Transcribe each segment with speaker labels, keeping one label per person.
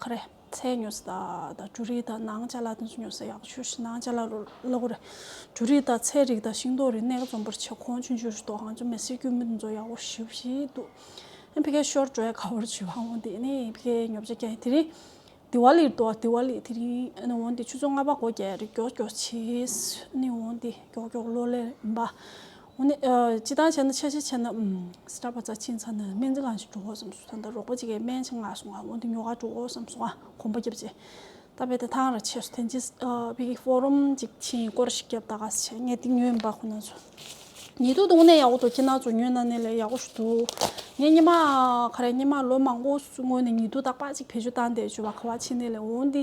Speaker 1: ཁ་རེ། ཚད་ཉོས་སུ་དག་དང་ཇུ་རིགས་དང་ནང་ཅ་ལག་དེ་ཚོ་ཉོས་སུ་ཡག་ཆུ་ཤི་ནང་ཅ་ལག་རུ་བླ་གོ་རེ། ཇུ་རིགས་དང་ཚད་རིགས་དང་ཤིང་ཏོག་རིགས་གནས་ཀ་འཛོམས་པར་བྱེད་ཁོང་ཆུ་འཇུ་རུ་དོག་ཧང་ཆུ་མེ་སྲིར་སྐྱུར་མི་དེ་ཚོ་ཡག་པོ་ཞིབ་བཞི་འདུག་ཨ་ཕི་ཀའི་ཤོར་གྲོའི་ཁ་བོར་ཆུ་བྷང་བོ་འདི་ནི་ཨི་ཕི་ཀའི་ཉོབ་ཆ་རྐྱང་ཡིན་དེ་རིང་དི་ཝཱ་ལིར་འདུག་དི་ཝཱ་ལི་དེ་རིང་ཨ་ནི་འོང་དེ་ཆུ་ཚོད་ལྔ་པ་སྒོ་བརྒྱད་རེ་མགྱོགས་མགྱོགས་བྱེད་ཨ་ནི་འོང་དེ་མགྱོགས་མགྱོགས་གློ་ལེར་འབའ། ཇི་ལྟར་བྱས་ན་ཆ་ཤས་ཆེ་ན་སྐྲ་བ་རྩ་ཆེའི་ས་ནས་སྨན་རྩིས་ཁང་ཞིག་འགྲོ་འོས་སམ་ཟུར་ཐག་འདི་རོགས་པ་གཅིག་གིས་སྨན་ཆེད་མངགས་སོང་ང་འོན་ཏེ་ཉོ་གར་འགྲོ་འོས་སམ་སོང་ང་གོམ་པ་བརྒྱབ་རྗེས་རྟ་དཔེ་དེ་ཐང་ར་ཆས་སུ་འཐེན་རྗེས་བི་གིས་ཕོ་རོམ་ཅིག་ཕྱིན་སྐོར་ཞིག་བརྒྱབ་ད་ག་ས་བྱས་ངས་དེ་ཉོས་མིན་པ་ཁོ་ན་ཚོ་ཉེ་དུ་དུང་ནས་ཡག་པོ་འདུག་ཁྱེད་རྣམས་ཚོ་ཉོས་ན་ནི་ལས་ཡག་པོ་ཞིག་འདུག་ངས་སྙེ་མ་ཁ་རས་སྙེ་མ་ལོ་མང་པོ་སྔོན་ནས་ཉེ་དུ་དག་པ་ཅིག་བེད་སྤྱོད་བཏང་སྟེ་བྱོས་པ་ཁ་བ་ཕྱི་ནས་ལས་འོན་ཏེ།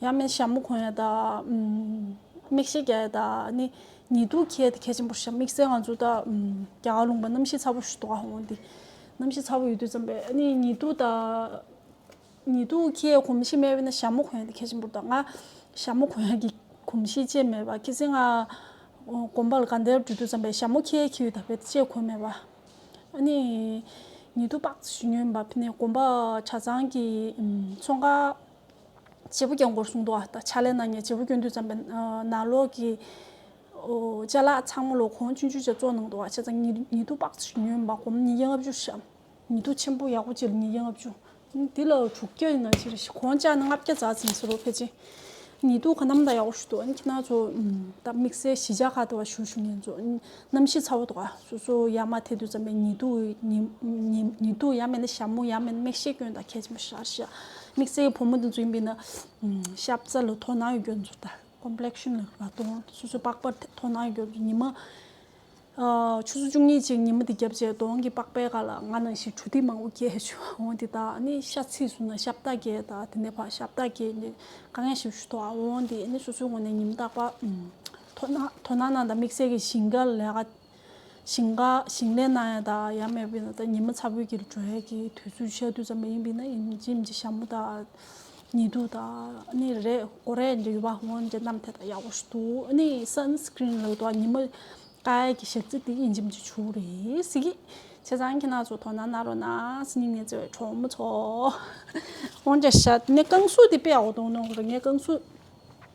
Speaker 1: ཡང་མིན་ཞྭ་མོ་གོན་ཡ་ད། མིག་ཤེལ་རྒྱག་ཡ་ད་ནི་ཉེ་དུ་ཁྱད་དེ་ཁྱད་ཆེན་པོ་ཞིག་དམིགས་བསལ་ང་ཚོ་ད། རྒྱ་གར་ལུང་པ་གནམ་གཤིས་ཚ་པོ་ཞིག་འདུག་ག་འདི། གནམ་གཤིས་ཚ་པོ་ཡོད་དུས་ཙམ་པས་ནི་ཉེ་དུ་ད། ཉེ་དུ་ཁྱེད་གོམས་གཤིས་དམའ་བས་ན་ཞྭ་མོ་གོན་ཡ་དེ་ཁྱད་ཆེན་པོ་ད་ང། ཞྭ་མོ་གོན་ཡ་གི་གོམས་གཤིས་ཅེས་མེད་པ་ཁྱེད་ཚེ་ང། གོམ་པ་ལ་ག་འདེར་འགྲོ་དུས་ཙམ་པས་ཞྭ་མོ་ཁྱེད་ཁྱེད་ཡོད་ད་བས་ཅེས་གོ་མེད་པ། ནི། ཉེ་དུ་སྤགས་ཚེ་ཞུ་ཉོན་པ་ཕི་ནས་གོམ་པ་ཆ་ཚང་གི། མཚོ་འགག། བྱེད་པོ་རྒྱབ་འགོར་སྲུང་དོ་ཨ། ཕྱག་ལས་གནང་ནས་བྱེད་པོ་སྐྱོན་དུས་བརྩམས་པའི་ནང་ལོག་གི། བཅའ་ལག་ཚང་མ་ལོག་གོང་སྤྱོད་འཇུག་བྱ་གཙོ་གནང་དོ་ཨ། བྱ་ཚང་ཉིད་དུ་དཔག་བྱེད་ཉོན་མོངས་པ་སྒོམ་ཉིད་ཀྱི་ལྔ་བཅུ་བཤམ། ཉིད་དུ་ཆེན་པོ་ཡག་པོ་བྱེད་ཉིད་ཀྱི་ལྔ་བཅུ། དེ་ལ་དྲུག་བརྒྱ་ཡིན་ན་ཅི་རེད་ཤི། གོང་བཅའ་ནི་ལྔ་བརྒྱ་རྫ་ཟིན་ཟེར་རོ་ཕལ་ཆེན། ཉིད་དུ་ག་རྣམས་དང་ཡག་པོ་ཞུ་དོ་ཨ། ཁྱི་ནག་ཚོ་དང་དམིགས་བསལ་གཞི་བཅའ་ཁ་བརྡ་བ་ཞུ་ཞུ་ཉན་ཚོ། རྣམ་ཤེས་ཚ་བོ་དགའ། སོ་སོ་ཡ་མ་དེ་དུས་ཙམ་པའི་ཉི་དུག་ཉི་དུག་ཡ་མེད་ན་ཞྭ་མོ་ཡ་མེད་ན་མིག་ཤེས་སྐྱོན་དང་ཁད་ཆེན་པོ་ཤར་ཤ་མིག་བརྩེགས་ཀྱི་བུ་མོ་དེ་ཚོ་ཡིན་པས་ན། ཤབ་ཚ་ལ་དོ་སྣང་ཡོད་རྒྱུར་མཛུབ་ཐལ Complexion ལ་ར་སྟོང་སོ་སོའི་པགས་པར་དོ་སྣང་ཡོད་རྒྱུར་མཛུབ་ཉི་མ། ཆུ་ཚོད་བཅུ་གཉིས་ཅིག་ཉི་མ་དེ་བརྒྱབ་རྗེས་གདོང་གི་པགས་པའི་ཁ་ལ་ང་ནང་བཞིན་གྲུ་ཐིག་མང་པོ་རྒྱས་བྱུང་འོང་དེ་དག་ནི་ཤ་ཚིགས་སུ་ན་ཤབ་རྟ་རྒྱས་དང་དེ་ནས་བར་ཤབ་རྟ་རྒྱས་ནས་དཀའ་ངལ་ཞིག་ཞུ་དོགས་འོང་དེ་ནི་སོ་སོའི་ངོ་ནས་ཉི་མ་རྟག་པ། དོ་སྣང་གནང་དང་དམིགས་བསལ་གྱི་ཞིང་ཁ་ལས་ཀ་ཞིང་ཁ་ཞིང་ལས་གནང་ཡ་དང་ཡ་མེད་པའི་ནང་ཉི་མ་ཚ་བོད་ཀྱི་གྲོས་ཡས་ཀྱི་དུས་ཚོད་ཤར་དུས་ཙམ་པ་ཡིན་པའི་ནང་ཡིན་ཇི་ཡིན་གྱི་ཞྭ་མོ་དང་ཉི་དུ་དང་ནི་རེད་གོ་རེད་ཇི་ཡོད་པ་ཧོན་ཇི་རྣམས་དེ་དག་ཡག་པོ་ཞིག་འདུག་ནི་སན་སྐྲིན་ལགས་དང་ཉི་མ་ཀ་ཡས་ཀྱི་ཞབས་རྩི་དེ་ཡིན་ཇི་མི་ཇི་ཆུག་རེད་ཟེར་གི་བྱས་ཙང་ཁྱེད་རྣམས་ཚོ་དོ་སྣང་གནང་རོགས་ན་སྙིང་ནས་བརྩེ་བའི་གྲོགས་མོ་ཚོ། ཧོན་ཇ་ཞྭ་ནི་རྐང་གསུག་དེ་དཔེ་ཡག་པོ་འདུག་ནོར་རེད་ངས་རྐང་གསུག་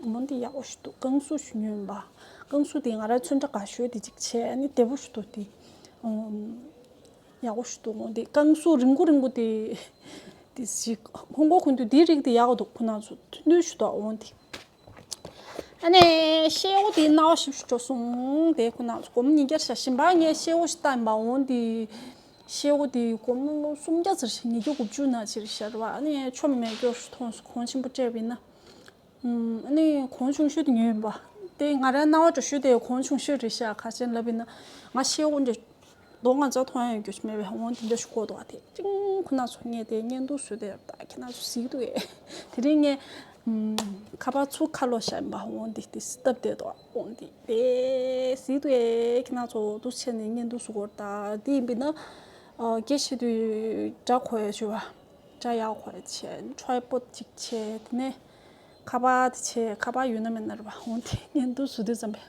Speaker 1: བུ་མོ་འདི་ཡག་པོ་ཞིག་འདུག་ཀང་སུ་ཞུ་ཉོན་པ། ཀང་སུ་དེ་ང་རང་ཚོད་འདྲ་ག་ཞོལ་དེ་གཅིག་བྱས་ཨ་ནི་བདེ་པོ་ཞིག་འདུག་དེ། ཡག་པོ་ཞིག་འདུག་དེ་ཀང་སུ་རིང་པོ་རིང་པོ་དེ། དེ་ཞིག་ཧོང་ཀོང་ཁུན་དུ་དེའི་རིགས་དེ་ཡག་འདུག་ཁོ་ན་ཚོ་ཐུན་ཐུན་ཞིག་འདུག་འོང་དེ། ཨ་ནི་ཤེས་ཨོ་དེའི་རྣ་བ་ཞིབ་ཞིག་འགྲོ་སོང་དེ་ཁོ་ན་ཚོ་གོམ་ཉིས་བརྒྱར་བྱ་ཞིང་པ་ངས་ཤེས་ཨོ་ཞིག་བཏགས་ཡིན་པ་འོང་དེ། ཤེས་ཨོ་དེ་གོམ་སུམ་བརྒྱ་ཟེར་ཞིང་ཉིས་བརྒྱ་དགུ་བཅུ་ན་ཕྱིར་བཤར་བ་ཨ་ནི་ཆོ་མེད་སྐྱོར་ཞིག་ཐོངས་སོང་ཁོང་ཆེན་པོ་སྤྲད་པའི་ན། ནི་གོང་ཆུང་ཤོས་དེ་ཉོས་ཡིན་པ། དེ་ང་རང་རྣ་བ་དྲོ་ཤོས་དེ་གོང་ཆུང་ཤོས་རེད་ཤག་ཁ་ཅན་ལབ་ཡིན་ན། ང་ཤེས་དབང་གིས་མདོག་ང་ཚོ་ཐོག་ཡོང་རྒྱུ་ཞིག་མེད་པའི་དབང་གིས་འདི་ཞིག་བཀོད་འདུག་བ་དེ་ཅིང་ཁོ་ན་ཚོ་ངས་དེ་བརྙན་ཐུང་བཟོས་དེ་ད་ཁྱེད་ན་ཚོ་གཟིགས་འདུག་ཨེ། དེ་རིང་ངས་ཁ་པར་ཚུར་ཁ་ལོ་བཞག་ཡིན་པ་དབང་གིས་དེ་སྟབས་བདེ་འདུག་དབང་གིས་དེ་གཟིགས་འདུག་ཨེ་ཁྱེད་ན་ཚོ་འདུག་ཕྱི་ནས་བརྙན་ཐུང་བཟོ་དགོས་རེད་ད་དེ་ཡིན་པས་ན། དགེ་བཤེས་དུས་དགྲ་གོ་ཡོད་ཅེས་པ། བཀྲ་ཡག་ཧོ་རེད་ཆེ་ཁྲོའི་པོ་ཅིག་ཆེ་དེ་ནས་ཁ་པ་དེ་ཆེ་ཁ་པ་ཡོད་ན་མེད་ན་རེད་པ་འོན་ཏེ་ཉན་དུ་སུ་དུས་ཙམ་པས་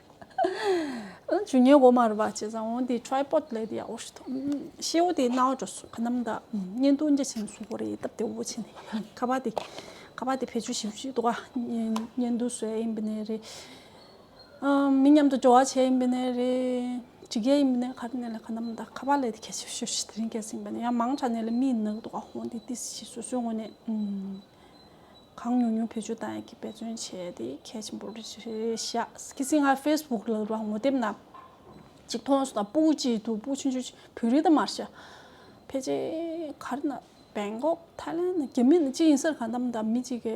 Speaker 1: ཨ་ཇུ་ཉེ་གོ་མ་རེད་པ་བྱས་ཙང་འོན་ཏེ་ཁྲོའི་པོ་ལེ་དེ་ཡག་ཧོ་ཤི་ཐོ་ཤེ་ཨོ་དེ་ན་ཨོ་ཇོ་སུ་ཁ་ནམ་ད་ཉན་དུ་འཇ་ཆེན་སུ་ཧོ་རེད་སྟབས་དེ་བོ་ཆེ་ནས་ཁ་པ་དེ་ཁ་པ་དེ་བེད་སྤྱོད་ཤེས་བྱུས་དོ་ག་ཉན་དུ་སུ་ཨེ་ཡིན་པ་ནས་རེད། མི་མཉམ་དུ་འགྲོ་བ་བྱེད་ཡིན་པ་ནས་རེད། ཇི་སྐད་ཡིན་པ་ནས་ཁ་ནས་ལས་ཁ་ནམ་ད་ཁ་བ་ལས་དེ་ཁྱད་ཆོས་ཤོས་ཤིག་དེ་རིང་སྐད་ཟིན་པ་ནས་ཡང་མང་དྲག་ནས་ལས་མི་ཡི་ནག་དུ་ཁ་ཧོན་དེ་ཏི་སི་ཞིག་སོ་སོའི་ངོ་ནས་གང་ཉུང་ཉུང་བེད་སྤྱོད་དང་ཡག་གི་འབད་བརྩོན་བྱས་དེ་གལ་ཆེན་པོ་རེད་བཞག་སྐྱེ་སྲིང་ང facebook ལ་རང་ངོ་དེབ་ནང་ཅིག་མཐོང་སོང་དང་པུའུ་ཅི་དུ་པུའུ་ཆུན་ཆུན་བོད་རིགས་དང་མར་ཤ་ཕལ་ཆེ་གར་ན Bangkok Thailand རྒྱ་མི་ནས་ཅི་ཡིན་སར་གང་ནམ་ད་མི་ཅིག་གི།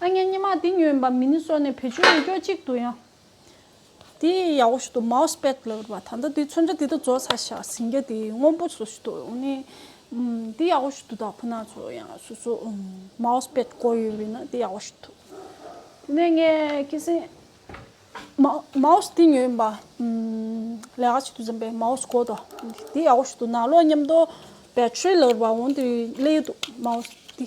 Speaker 1: ཨ་མྱེ་སྙེ་མ་འདི་ཉོས་འབའ་མིན་སོགས་ནས་བེད་སྤྱོད་མི་ཀྱོག་ཅིག་འདུག་ཡང། འདི་ཡག་བོ་ཞིག་འདུག་མའོས་པད་ལ་བར་བ་ད་ལྟ་འདི་ཚོན་ཆ་འདི་དག་བཙོ་ས་ཞག་ཟིང་རྒྱ་འདི་སྔོན་པོ་བཟོ་ཞིག་འདུག་ནི། འདི་ཡག་བོ་ཞིག་འདུག་དག་ཁོ་ན་ཚོ་ཡང་སོ་སོ་མའོས་པད་བཀོལ་ཡོད་པས་ན་འདི་ཡག་བོ་ཞིག་འདུག་དེ་ནས་ངས་སྐད་གསེང། མའོས་འདི་ཉོས་འབའ་ལས་ཀ་ཅིག་འདུག་འཛམ་པའི་མའོས་བཀོལ་ཏོ་འདི་ཡག་བོ་ཞིག་འདུག་ནང་ལོག་མཉམ་འདོགས། Battery ལ་བར་བ་འོང་འདི་ཀླད་ཡོད་འདུག་མའོས་འདི།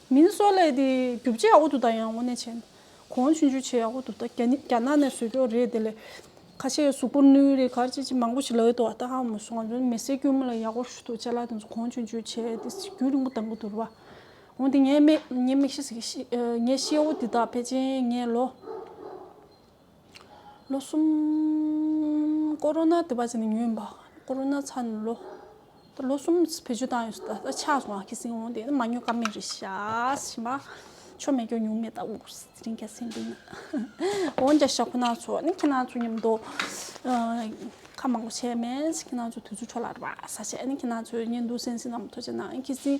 Speaker 1: མིན་བཟོ་ལས་དེ་རྒྱུ་བྱེད་ཨོ་དུ་ད་ཡང་དབོ་ནས་བྱས་ན་གོང་ཆུ་འཇུ་བྱེད་ཨོ་དུ་ད་རྒྱ་རྒྱ་ནག་ནས་བཟོས་རྒྱུ་རེད་དེ་ལས་ཁ་ཤས་གཟུགས་པོར་ནུས་རེད་གར་ཅི་ཅི་མང་པོ་ཞིག་ལ་ཨོ་དུ་ཨ་ད་ཧ་མོ་སོང་ང་མི་སེར་དཀྱུས་མོ་ལ་ཡག་པོ་ཞུ་ཐུགས་བཅད་ལགས་དེ་ཚོ་གོང་ཆུ་འཇུ་བྱེད་དེ་རྒྱུ་རིང་པོ་དང་པོ་དུར་བ་འོང་དེ་ངས་མིག་ཤེས་ཨོ་དུ་ད་པེ་ཅིན་ངས་ལོ། ལོ་གསུམ། ཀོ་རོ་ན་དེ་བར་ཚེ་ནི་ཉུལ་འབག་ཀོ་རོ་ན་ཚར་ནས་ལོ། ད་ལོ་གསུམ་བེད་སྤྱོད་བཏང་ཡོད་ད་ཆགས་སོང་ཨ་ཁེ་སིང་འོང་དེ་མ་ཉོ་ཀ་མེད་རེད་ཤག་ཤི་མ། ཆོ་མེད་སྐྱོ་ཉུང་མེད་ད་འུར་ཟིང་ག་སེང་འདུག་ན། འོན་ཀྱང་ཞག་ཁོ་ན་ཚོ་ནི་ཁྱེད་རང་ཚོ་ཉམས་དོ། ཁ་མང་པོ་བྱས་མེད་ཁྱེད་རང་ཚོ་དུས་ཚོད་འཕྲོ་བརླག་རེད་པ་ཟ་བྱས་ནི་ཁྱེད་རང་ཚོ་གཉེན་སྡུག་སེམས་སེམས་ནམ་མཐོ་བྱས་ན་ཨ་ཁེ་སིང།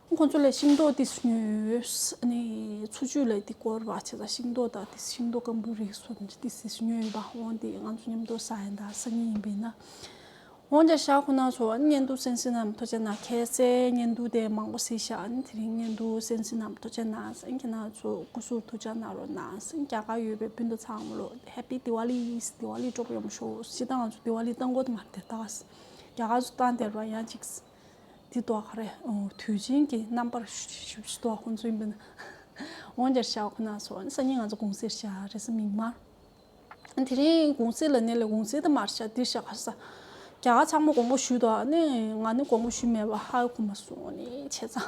Speaker 1: ཁོ་ཚོ་ལ་ཤིང་ཏོག་དེ་ཉོས། འཚོ་བཅུད་ལ་དེ་སྐོར་བ་བྱས་ལ་ཤིང་ཏོག་དང་ཤིང་ཏོག་སྐམ་པོའི་རིགས་སོགས་ཉོས་ཡོད་པ། འོན་ཏེ་ང་ཚོ་མཉམ་དུ་ཟ་ཡི་འདྲ་ས་གཉིས་ཡིན་པས་ན། འོན་ཀྱང་ཞག་ཁོ་ན་ཚོ་གཉེན་དུ་སེམས་ཤིང་རྣམས་ཐོ་ཅན་ན་ཁེ་བསད་གཉེན་དུ་དེ་མང་པོ་ཟིག་ཞག་དེ་རིང་གཉེན་དུ་སེམས་ཤིང་རྣམས་ཐོ་ཅན་ན་སེམས་ཁེ་ན་ཚོ་སྐུ་ཟུར་དུ་ཅག་ན་རོ་ན་སེམས་རྒྱ་གར་ཡོད་པའི་སྤུན་ཟླ་ཚང་མོ་ལོ Happy Diwali དེ་བ་ལི་སྤྲོ་པོ་ཡོང་པ་ཤོག་ཅི་ད་ང་ཚོ་དེ་བ་ལི་བཏང་གོ་དེ་མ་བསྟེར་ད་རྒྱ་གར་ཚོ་བཏང་སྟེར་བ་ཡང་ཅིག། འདི་ལྟོ་ཨ་རེ། དུས་ཆེན་གྱི་རྣམ་པར་ཞུ་ཞུ་ལྟོ་ཨ་ཁོང་ཚོ་ཡིན་པ་ན། འོང་རྒྱར་བྱ་བ་ཁོ་ན་ཚོ་ཨ་ནི་སང་ཉིན་ང་ཚོ་དགུང་ཟས་བྱ་རེ་ས་མིག་དམར། དེ་རིང་དགུང་ཟས་ལ་གནས་ལ་དགུང་ཟས་དུ་མར་བྱ་འདིར་བྱ་ག་ས། རྒྱ་གར་ཚང་མ་དགོང་མོ་ཞུས་ལྟོ་ཨ་ནི་ང་ནི་དགོང་མོ་ཞུས་མེད་པ་ཧ་གོ་མ་སོང་ཨ་ནི་བྱས་ཙང།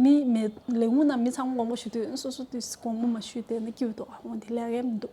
Speaker 1: མི་མེད་ལས་ངུ་ན་མི་ཚང་མ་དགོང་མོ་ཞུས་དུས་སོ་སོ་དུས་དགོང་མོ་མ་ཞུས་དེ་ནི་སྐྱིད་ལྟོ་ཨ་འོང་དེ་ལས་ཀའི་མི་འདུག།